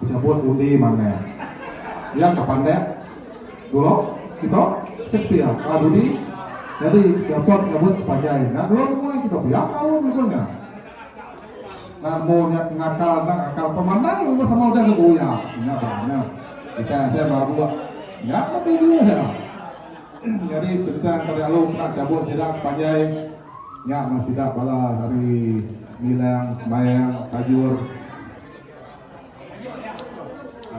Pejabut undi manah iya ka pandak dulu kitu sik pia ka dudi nyadi siatot nyabut panjai enda belum nguai kitu pia kaul mega nya nan mu nya ngakal enda ngakal pemandai meh sama udah deh buya nya ba nya kitai asai berabuk nya meh tuju iya nyadi sentang ka dialu kena chabut sida ke panjai. Nya meh sida bala ari Semilang, Semayang, Tajur,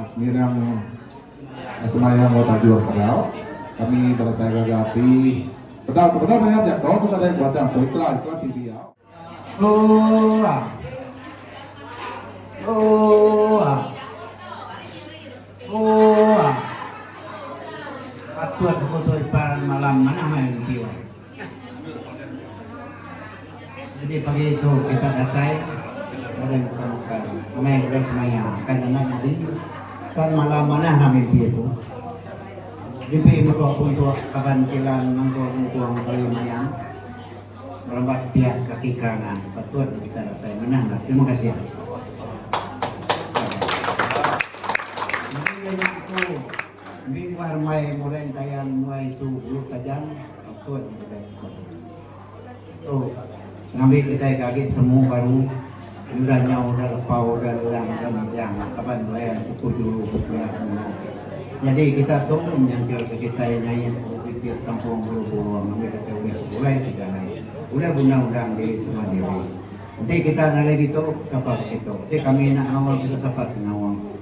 Semilang, Semayang enggau Tajur pegau. Kami bala saya gaga ati. Peda ke peda mayar jako tu kada ke batang tu ikla ikla ti biau. Ooh ah. Ooh ah. Ooh ah. Patut aku tu ipan malam manah main video. Jadi pagi tu kita datai orang bukan bukan amai orang semaya akan anak nyadi tuan malam mana lah mimpi tu mimpi muka puntuk kaban kilan mangkuk mungkung kali mayam merambat pihak kaki kanan patut kita datai mana lah terima kasih Thank you. Ni mah remai mureng kayan mua isu Bulu Tajam patut kitai pesoda. Tu ngambi kitai ke agi petemu baru ti udah nyau udah lepau udah lelang udah mejang laban belayan suku juru bepia semina. Nyadi kita tu menyantil ke kitai nyait ke bibit kampung Bulu Burung ngambi kitai ulih begulai sida alai, ulih guna undang diri semua diri. Enti kita nadai ditu sapa begitu. Ti kami enda ngaul kita sapa ti ngaul.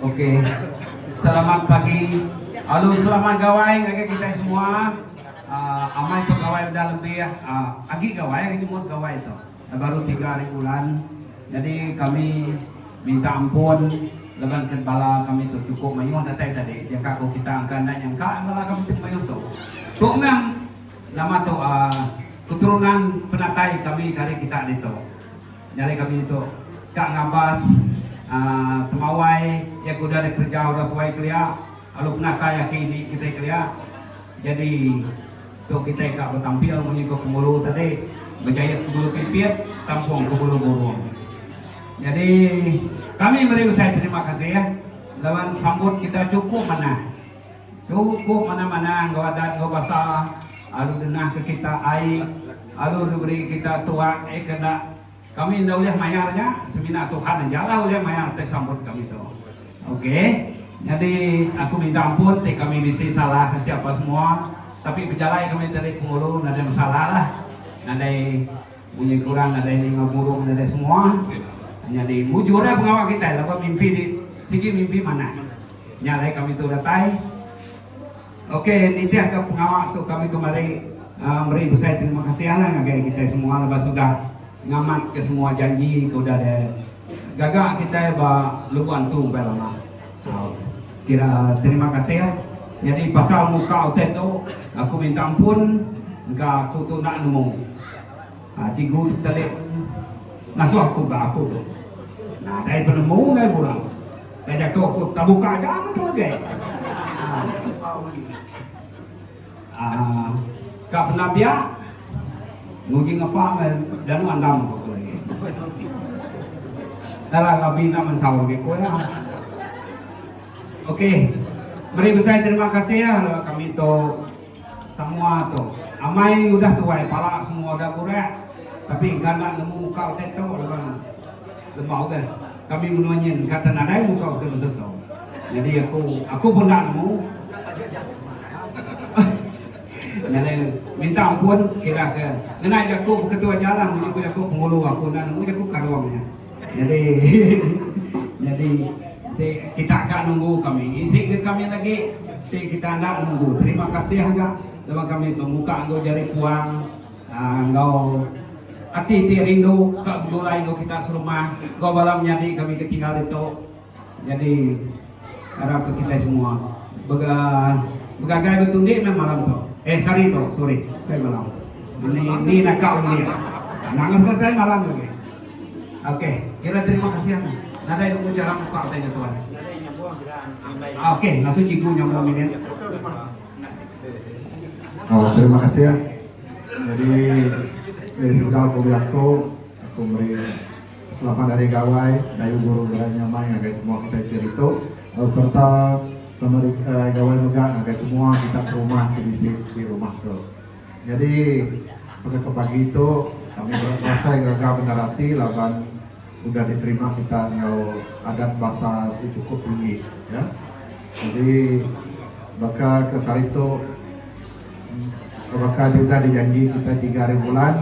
Okey. Selamat pagi. Alu selamat gawai ngagai kitai semua. Uh, amai tu gawai udah lebih uh, agi gawai agi mut gawai tu. Dah baru 3 hari bulan. Jadi kami minta ampun laban ke bala kami tu cukup mayuh datai tadi. Dia kak ko kita angka nak nyangka bala kami tu mayuh so. Tu mem nama tu uh, keturunan penatai kami kari kita ditu. Nyadi kami ditu ka ngabas Temawai iya ke udah dikereja orang tuai kelia lalu penatai aki ini kitai kelia. Jadi tu kitai ka betampil munyi ke Penghulu tadi bejayat Penghulu Pipit tampung Penghulu Burung. Jadi kami meri besai terima kasih laban sambut kita chukup manah. Tu ku manah-manah enggau adat enggau basa alu ngenahka kita ai alu neberi kita tuak ai ke enda kami enda ulih mayar nya semina Tuhan aja lah ulih mayar ti sambut kami tu ok nyadi aku minta ampun ti kami bisi salah ke siapa semua tapi bejalai kami ti ari penghulu nadai masalah lah nadai Munyi kurang nadai ninga burung nadai semua nyadi mujur ai pengawa kitai laban mimpi di sigi mimpi manah. Nya alai kami tu datai ok nitih ka pengawa tu kami kemari uh, meri besai terima kasih Allah ngagai kitai semua laban sudah ngamat ke semua janji ke udah de gaga kitai ba luban tu empai lama. Kira terima kasih. Nyadi pasal muka utai tu aku minta ampun engka aku tu enda nemu. Ah cikgu tu telik ngasuh aku ga aku tu. Nah dai penemu dai bura. Dai jaku aku tabuka ga metu agi. Ah. Ka pernah pia nguji ngepa meh danu andam ko aku lagi. Dah lah labi enda mensau lagi ko iya. Okey. Meri besai terima kasih ya lawan kami tu semua tu. Amai udah tuai pala semua udah burak tapi engka enda nemu muka utai tu laban Lepa udah kami menua nyin kata nadai muka udah masa tu. Nyadi aku aku pun enda nemu. Nyadi minta ampun kira ke ngena jaku beketua jalan mesti ku jaku pengulu aku enda nemu jaku karong nya. Nyadi nyadi ti kita ga nunggu kami isi ke kami lagi ti kita enda nunggu terima kasih ga laban kami tu muka enggau jari puang. Enggau ati ti rindu ka begulai enggau kita serumah enggau bala menyadi kami ke tinggal ditu. Nyadi arap ke kitai semua bega begagai betundi meh malam tu. Eh sehari tu sorry bukai malam. Ni ni naka ulik. Nangus meh tai malam lagi. Okey kira terima kasih anang. Nadai nemu cara muka utai nya tuan. Okey ngasuh cikgu nyambung minit. Oh, terima kasih ya. Jadi dari sudah aku aku aku beri selamat dari gawai dari guru gerai nyamai ngagai semua kita kira itu oh, serta sama di uh, gawai juga ngagai semua kita ke rumah ke di di rumah tu. Jadi pada pagi itu kami berasa gagal mendarati laban udah diterima kita enggau adat basa ti cukup tinggi ya jadi baka ke sehari tu baka ti udah dijanji kita tiga hari bulan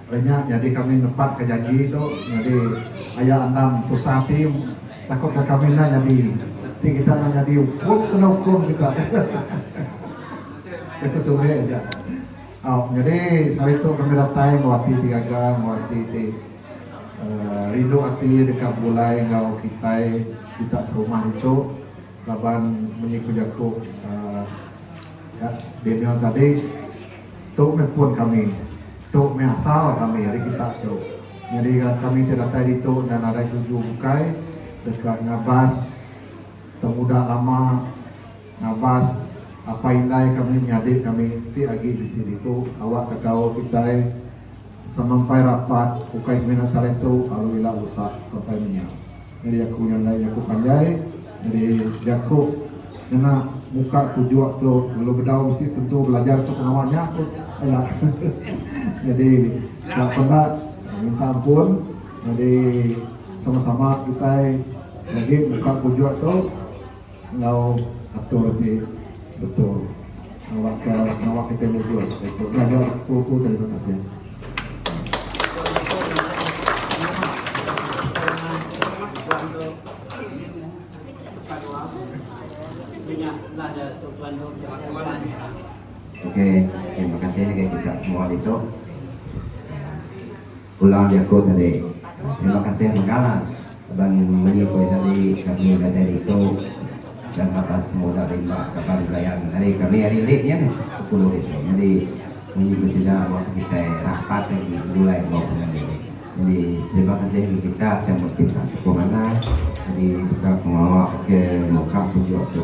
ari nya nyadi kami nepat ka janji tu nyadi aya anang tusah ati takut ka kami enda nyadi ti kita enda nyadi hukum kena hukum kita hehehe ke ketulik aja. Au nyadi sehari tu kami datai enggau ati ti gaga enggau ati ti rindu ati deka begulai enggau kitai kita serumah ditu laban munyi ku jaku uhh Daniel tadi tu meh pun kami tu meh asal kami ari kita tu nyadi kami ti datai ditu enda nadai tuju bukai deka ngabas pengudah lama. Ngabas, apai indai kami menyadi kami ti agi bisi ditu awak ka gaul kitai samampai rapat ukai semina sehari tu lalu ila rusak sampai menya. Nyadi aku nya endai jaku panjai nyadi jaku ngena muka kujuk tu lalu bedau bisi tentu belajar tu pengawa nya ku ila. Nyadi ka peda minta ampun nyadi sama-sama kitai nyadi muka kujuk tu. Enggau atur ti betul ngawa ka ngawa kitai mujur supaya tu ngajar ku ku terima kasih. Okey terima kasih ngagai kita semua ditu. Pulang jaku tadi. Terima kasih mega laban menyukui tadi kami ngagai ditu dan baka semua udah rimba kaban belayan ari kami ari link nya nih ke pulu ditu. Nyadi munyi ke sida meh ke kitai rapat agi begulai enggau pangan diri. Nyadi terima kasih agi kita sama kita sukup manah nyadi baka pengawa ke muka penunjuk tu.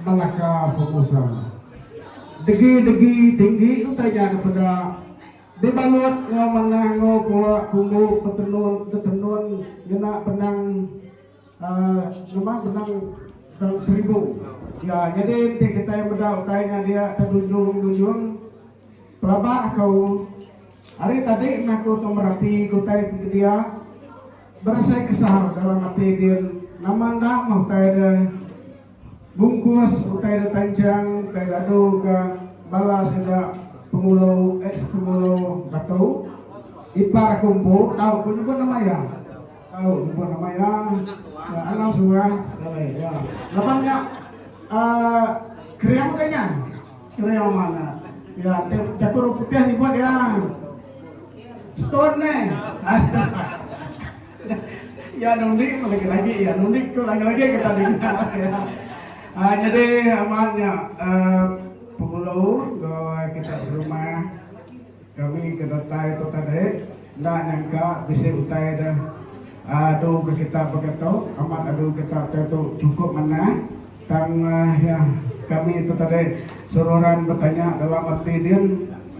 Belaka Formosa. Degi degi tinggi utai nya dipeda dibalut enggau manah enggau pua kumbu betenun betenun ngena benang uhh ngemah benang dalam seribu iya nyadi enti kitai meda utai nya dia ke dunjung dunjung pelaba aku ari tadi meh aku tu merati ke utai ti ke dia berasai kesal dalam ati din nama enda meh utai deh. Bungkus utai da tanchang kai ladu ka bala sida pengulu ex pengulu batu ipar aku empu tau ku nyebut nama iya tau nyebut nama iya iya anang surah sekali iya laban nya uhh kering udah nya kering amat nya iya jaku orang putih nyebut iya stone ne Iya nundi pun lagi lagi iya nundi tu lagi lagi kita dinga iya aaa nyadi amat nya aaa pengulu enggau kita serumah kami ke datai tu tadi enda nyangka bisi utai deh aaa adu ke kita pekatu amat adu kita pekatu cukup manah. Tang iya, kami tu tadi seruran betanya dalam ati din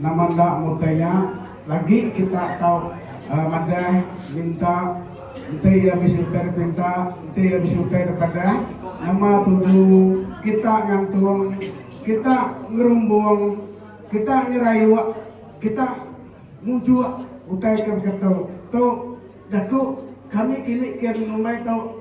nama enda mutai nya lagi kita tau madah minta enti iya bisi utai dep minta enti iya bisi utai dep adah nama tuju kita ngantung kita ngerumbung kita nyerayuk kita mujuk utai ke begitu tu jaku kami kini kian ngumbai tu.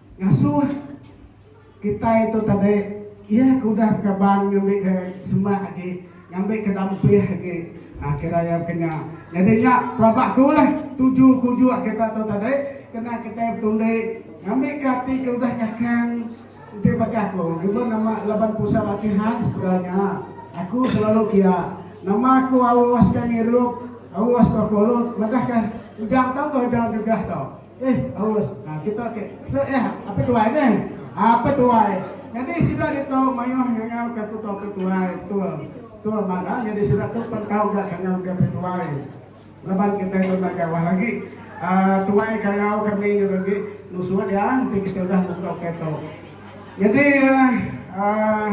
Ngasuh kitai tu tadi, iya ke udah bekaban ngambika semak agi, ngambika dampih agi. Nah, kira iya baka nya. Nyadi nya pelaba aku lah tuju ke ujuk kita tu tadi, kena kitai betundi ngambika ati ke udah kakang enti baka aku nyebut nama laban pusat latihan sekula nya, aku selalu kia nama aku auska ngirup, auska kolod madahka ujar tauka ujar gegah tu. Eh aus nah kita ke Fred eh Ape Tuai neh Ape Tuai nyadi sida ditu mayuh ngangau ka kuto Ape Tuai betul betul mak nah nyadi sida tu pen tau ga ngangau ke Ape Tuai laban kitai tu enda jauh agi Uh, tuai ka ngau kami ngetu agi nusu dia enti kita udah muka ke tu. Jadi uh, uh,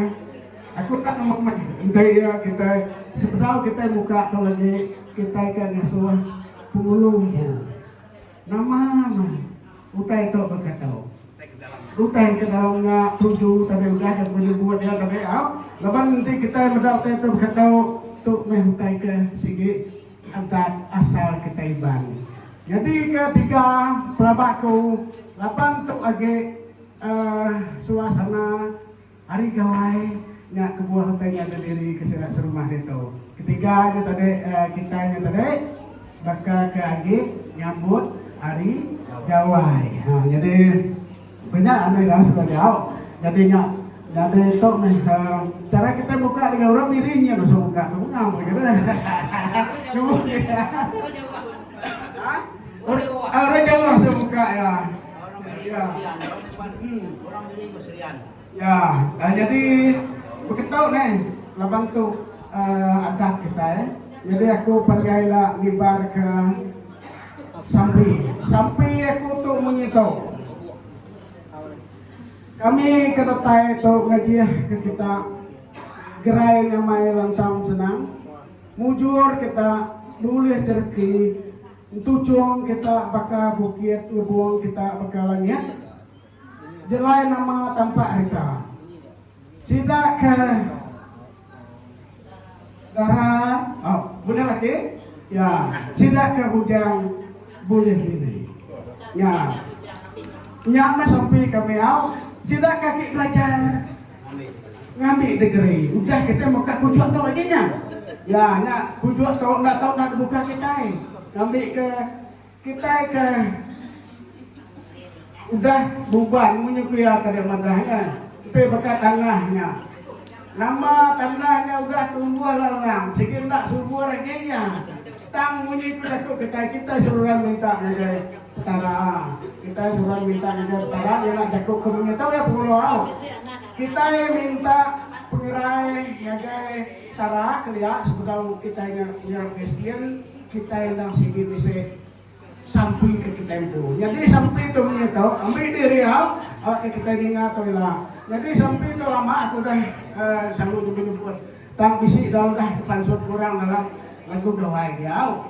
aku tak nemu mai enti uh, kita sepedau kita muka tu lagi kita ke ngasuh pengulu tu. Nama meh utai tu bekatu. Utai ke dalam nya tuju tadi udah deka menyebut iya tadi au. Laban enti kitai meda utai tu bekatu, tu meh utai ke sigi entat asal kitai Iban. Nyadi ke tiga pelaba aku laban tu agi uhh suasana. Ari Gawai nya kebuah utai nya deh diri ke sida serumah ditu. Ketiga nya tadi kitai nya tadi baka ke agi nyambut Hari Gawai. Ha nyadi ko nya anu ira suba diau. Nyadi nya nyadi tu meh chara kitai muka dengan orang Miring nya tusuk muka tu bengam lagi tu. Orang Jawa. Ha? Orang Jawa tusuk muka iya. Ya, dah nyadi beketu neh laban tu adat kitai. Nyadi aku panjai ila ngibarka sampi. Sampi aku tu munyi tu. Kami ke datai tu ngajihka kita gerai ngamai lantang senang. Mujur kita bulih jereki. Entu cung kita baka bukit ngebung kita baka langit jelai nama tampak rita. Sida ke dara oh bendar laki ya sida ke bujang bulih bini. Nya nya meh sampi kami au sida kaki belajar. Ngambi degeri. Udah kita muka kujuk tu lagi nya. Ya, nya kujuk tu enda tau dah dibuka kitai. Ngambi ke kitai ke udah buban munyi kuya tadi madah nya. Empi baka tanah nya. Nama tanah nya udah tumbuh lalang, sigi enda subur lagi nya. Tang munyi ku jaku kitai, kitai seruran minta ngagai Petara, kitai suba minta ngagai Petara nyana jaku ke munyi tu deh pengulo au. Kitai minta pengerai ngagai Petara kelia sebedau kitai nya nya orang Kristian, kitai endang sigi bisi sampi ke kitai empu. Nyadi sampi tu munyi tu, ambi diri au, au ke kitai ninga tu ila. Nyadi sampi tu lama aku udah uh, sanggup nyebut-nyebut. Tang bisi dalam dah dipansut orang dalam lagu gawai diau.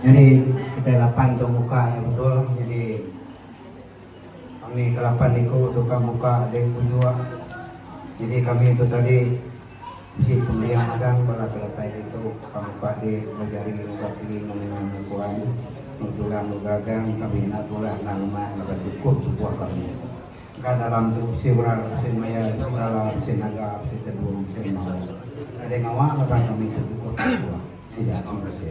Nyadi kitai lapan tu muka iya betul nyadi. Kami ke lapan iku tu ka muka dek pujuk jadi kami tu tadi bisi pembiak madang bala ke datai ditu ka muka dek enggau jari enggau kaki enggau menua enggau kuan enggau tulang enggau gagang kami enda tulah endang rumah laban cukup tubuh kami ka dalam tu bisi orang bisi maya bisi bala bisi naga bisi tedung bisi enggau enda dek ngawa laban kami tu cukup tubuh. Ija terima kasih.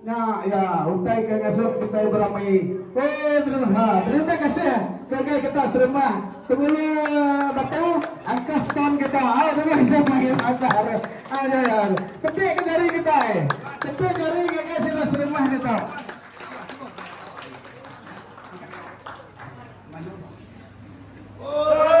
Nya iya utai ke ngasuh kitai beramai. Ooh terima ha terima kasih ngagai kita serumah pengulu batu angkah stand kita au terima kasih panggil madah re ha nya iya tepik ke jari kitai tepik jari ngagai sida serumah ditu. Ooh ha.